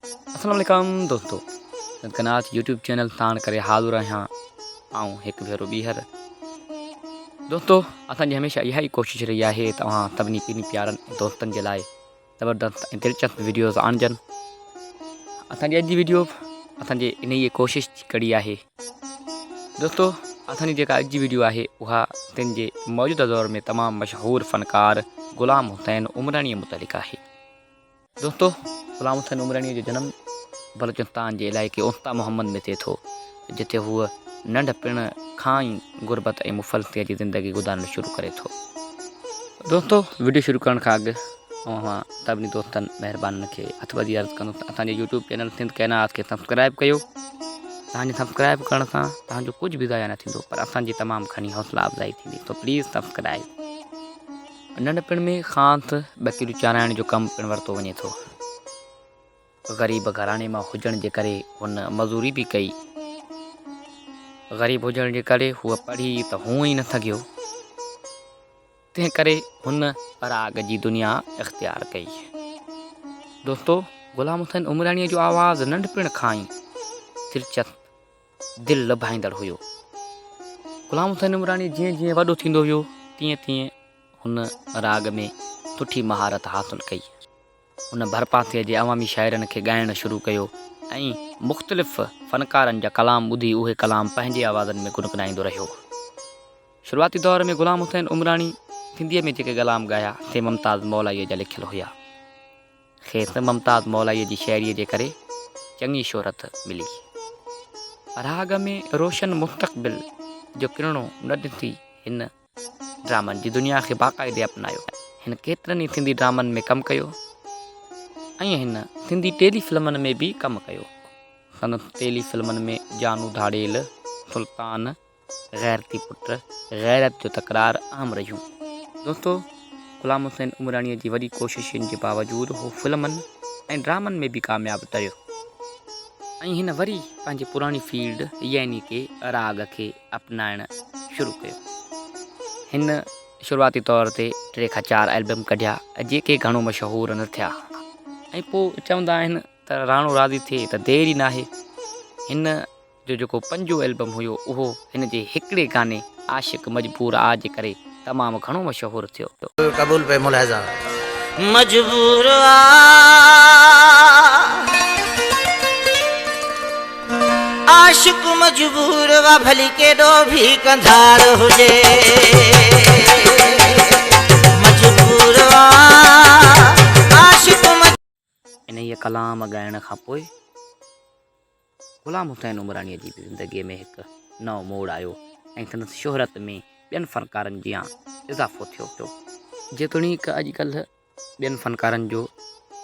اسلام عليڪم دوستو سنڌ ڪا ناچ يوٽيوب چينل ساڻ ڪري حاضر آهيان آئون هڪ ڀيرو ٻيهر دوستو اسان جي هميشه اها ئي ڪوشش رهي آهي ته اوهان سڀني ڪن پيارن دوستن جي لاء زبردست ۽ دلچسپ ويڊيوز آڻجن اسان جي اڄ جي ويڊيو اسان جي ان ئي ڪوشش جي ڪڙي آهي دوستو اسان جي جيڪا اڄ جي ويڊيو آهي اها سنڌ جي موجوده دور ۾ تمام مشهور فنڪار غلام حسين عمراڻي متعلق آهي دوستو غلام حسين عمراڻيء جو جنم بلوچستان جي علائقي اوستا محمد ۾ ٿئي ٿو جتي هو ننڍ پڻ کان ئي غربت ۽ مفلسيء جي زندگي گذارڻ شروع ڪري ٿو دوستو وڊيو شروع ڪرڻ کان اڳ اوهان سڀني دوستن مهربانن کي هٿ ٻڌي عرض ڪندو ته اسان جي يوٽيوب چينل سنڌ ڪيناس کي سبسڪرائب ڪيو تان جي سبسڪرائب ڪرڻ سان تان جو ڪجهه به ضايع نه ٿيندو پر اسان جي تمام گهڻي حوصلا افزائي ٿيندي تو پليز سبسڪرائب ننڍپڻ ۾ کان تھ ٻڪريون چارائڻ جو ڪم پڻ ورتو وڃي ٿو. غريب گھراڻي مان ھجڻ جي ڪري ھن مزوري به ڪئي. غريب ھجڻ جي ڪري ھو پڙھي تھ ھونء ئي نھ سگھيو. تنھن ڪري ھن پراڳ جي دنيا اختيار ڪئي. دوستو! غلام حسين عمراڻيء جو آواز ننڍپڻ کان ئي دلچسپ دل لڀائيندڙ هيو. غلام حسين عمراڻي جيئن جيئن وڏو ٿيندو ويو تيئن تيئن هن راڳ ۾ سٺي مهارت حاصل ڪئي. هن ڀرپاسي جي عوامي شاعرن کي ڳائڻ شروع ڪيو ۽ مختلف فنڪارن جا ڪلام ٻڌي اهي ڪلام پنهنجي آوازن ۾ گنگنائيندو رهيو. شروعاتي دور ۾ غلام حسين عمراڻي سنڌيء ۾ جيڪي ڪلام ڳايا سي ممتاز مولائيء جا لکيل هيا. کيس ممتاز مولائيء جي شاعريء جي ڪري چڱي شهرت ملي. پراگ ۾ روشن مستقبل جو ڪرڻو نه ڏسي هن ڊرامن جي دنيا کي باقاعدي اپنايو. هن ڪيترن ئي سنڌي ڊرامن ۾ ڪم ڪيو ۽ هن سنڌي ٽيلي فلمن ۾ به ڪم ڪيو. سندس ٽيلي فلمن ۾ جانو ڌاڙيل، سلطان، غيرتي پٽ غيرت جو تڪرار عام رهيون. دوستو غلام حسين عمراڻيء جي وڏي ڪوششن جي باوجود هو فلمن ۽ ڊرامن ۾ به ڪامياب تريو ۽ هن وري پنهنجي پراڻي فيلڊ يعني ڪي راڳ کي اپنائڻ شروع ڪيو. هن شروعاتي طور تي ٽي کان چار البم ڪڍيا جيڪي گهڻو مشهور نه ٿيا ۽ پوء چوندا آهن ته راڻو راضي ٿئي ته دير ئي ناهي هن جو جيڪو پنجون البم هيو اهو هن جي هڪڙي گاني عاشق مجبور آ جي ڪري تمام گهڻو مشهور ٿيو. دل قبول پئي ملاحظه مجبور آ عاشق مجبور آ ڀلي ڪيڏو ڀي ڪنڌار هجي. انهيء ڪلام ڳائڻ کان پوء غلام حسين عمراڻيء جي زندگيء ۾ هڪ نئون موڙ آيو ۽ سندس شهرت ۾ ٻين فنڪارن جيان اضافو ٿيو. جيتوڻيڪ اڄ ڪلهه ٻين فنڪارن جو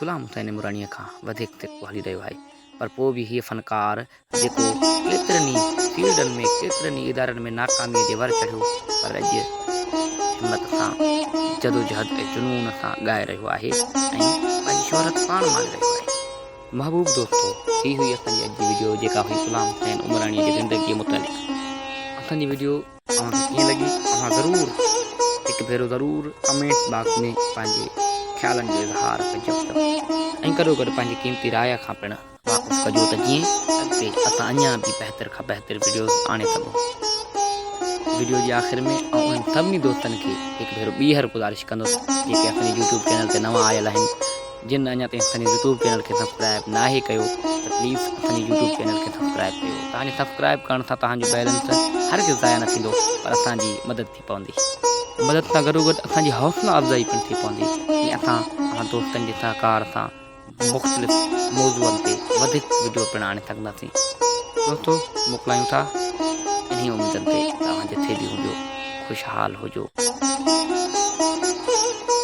غلام حسين عمراڻيء کان وڌيڪ سڪو هلي رهيو آهي، پر پوء به هيء فنڪار جيڪو ڪيترن ئي فيلڊن ۾ ڪيترن ئي ادارن ۾ ناڪاميء جي ور چڙهيو پر اڄ همت سان جدوجهد ۽ جنون سان ڳائي رهيو آهي ۽ پنهنجي شهرت پاڻ ماڻي رهيو آهي محبوب دوستو هي هئي اسان جي اڄ جي ويڊيو جيڪا هئي غلام حسين عمراڻي جي زندگي متعلق اسان جي ويڊيو اوهان کي ڪيئن لڳي اوهان ضرور هڪ ڀيرو ضرور ڪمينٽ باڪس ۾ پنهنجي خيالن جو اظهار ڪجو ۽ گڏو گڏ پنهنجي قيمتي راء کان پڻ واپس ڪجو ته جيئن اڳتي اسان اڃان به بهتر کان بهتر وڊيوز آڻي سگهون وڊيو جي آخر ۾ آئون انهن سڀني دوستن کي هڪ ڀيرو ٻيهر گذارش ڪندس جيڪي اسان يوٽيوب چينل تي نوان آيل آهن جن اڃا تائين اسان يوٽيوب چينل کي سبسڪرائب نه آهي ڪيو ته پليز اسان يوٽيوب چينل کي سبسڪرائب ڪيو تان جو سبسڪرائب ڪرڻ سان تان جو بيلنس هر ڪس ضايع نه ٿيندو پر اسان جي مدد ٿي پوندي مدد سان گڏو گڏ اسان جي حوصلا افزائي پڻ ٿي پوندي ۽ اسان اوهان دوستن جي سهڪار سان مختلف موضوعن تي وڌيڪ وڊيو پڻ آڻي سگهنداسين چوٿو موڪلايون ٿا انهي اميدن تي توهان جٿي به هجو خوشحال هجو.